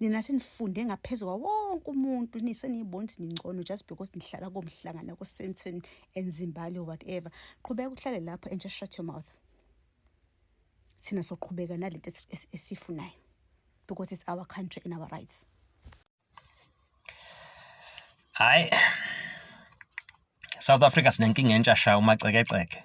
nina senifunde ngaphezu kwa wonke umuntu niseniyibona ukuthi ningcono just because nihlala komhlangana kosenton and zimbali whatever qhubeka uhlale lapho and just shut your mouth thina soqhubeka nalento esifunayo because it's our country and our rights hayi south africa sinenkinga entsha sha umacekeceke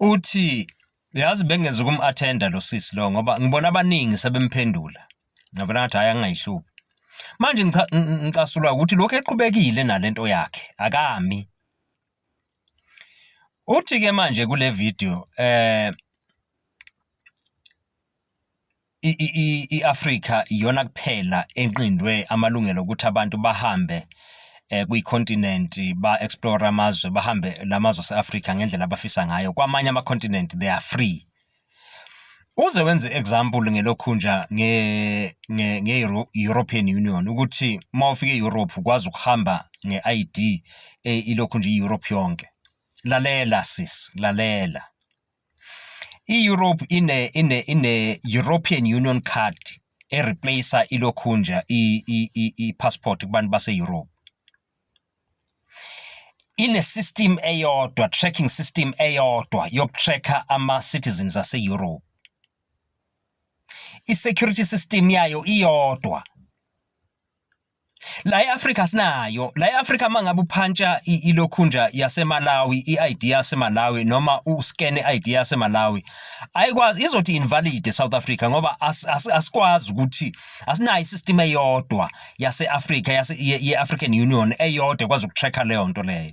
Uthi yazi bengenza ukum-athenda lo sisi lo ngoba ngibona abaningi sebemphendula ngabona ngathi hhayi angingayihlubi manje ngicasulwa ukuthi lokhu eqhubekile nalento yakhe akami uthi-ke manje kule video um i-Afrika iyona kuphela enqindwe amalungelo ukuthi abantu bahambe eh, kwicontinent ba-explore amazwe bahambe la mazwe ase-Afrika ngendlela abafisa ngayo kwamanye ama-continent they are free uze wenze example ngelokhunja nge nge, nge European Union ukuthi uma ufika e-Europe ukwazi ukuhamba nge-ID eh, ilokhu nje i-Europe yonke lalela sis lalela I-Europe ine ine ine European Union card ereplacer ilokhunja i-passport kubantu base-Europe. Ine-system eyodwa, tracking system eyodwa yokutracker ama-citizens ase-Europe. I-security system yayo iyodwa. la eAfrika sinayo la eAfrika mangabe uphantsha ilokhunja yaseMalawi iID yaseMalawi noma uscan iID yaseMalawi ayikwazi izothi invalid eSouth Africa ngoba asikwazi ukuthi asinayo isystem eyodwa yaseAfrika yase yeAfrican Union eyodwa ekwazi ukutracker leyo nto leyo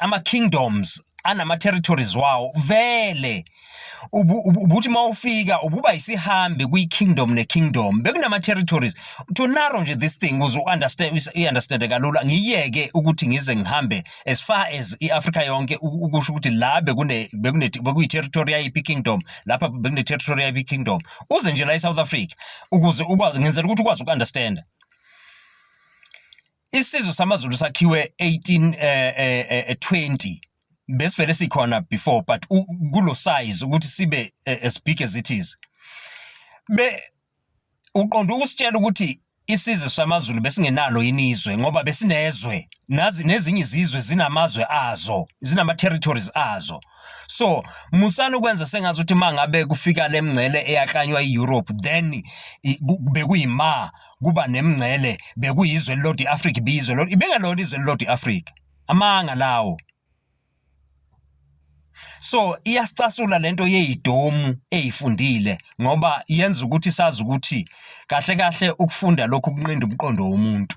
ama kingdoms anama territories wawo vele ubuthi mawufika ububa isihambi kwi kingdom ne kingdom bekunama territories to narrow nje this thing uze understand i understand kalula ngiyeke ukuthi ngize ngihambe as far as i Africa yonke ukusho ukuthi la bekune bekune bekuyi territory yayi kingdom lapha bekune territory yayi kingdom uze nje la e South Africa ukuze ukwazi ngenzela ukuthi ukwazi uku understand isizwe samaZulu sakhiwe 18 eh, eh, eh, 20 eh, besivele sikhona before but kulo size ukuthi sibe eh, as big as it is be uqonda ukusitshela ukuthi isizwe samaZulu besingenalo yini izwe ngoba besinezwe nazi nezinye izizwe zinamazwe azo zinama territories azo so musana ukwenza sengazi ukuthi mangabe kufika lemngcele eyaklanywa iEurope then bekuyima kuba nemngcele bekuyizwe elilodwa i-afrika ibiyizwe lodwa ibengelona izwe elilodwa i-afrika amanga lawo so iyasicasula lento yeyidomu eyifundile ngoba yenza ukuthi sazi ukuthi kahle kahle ukufunda lokhu kunqinda umqondo womuntu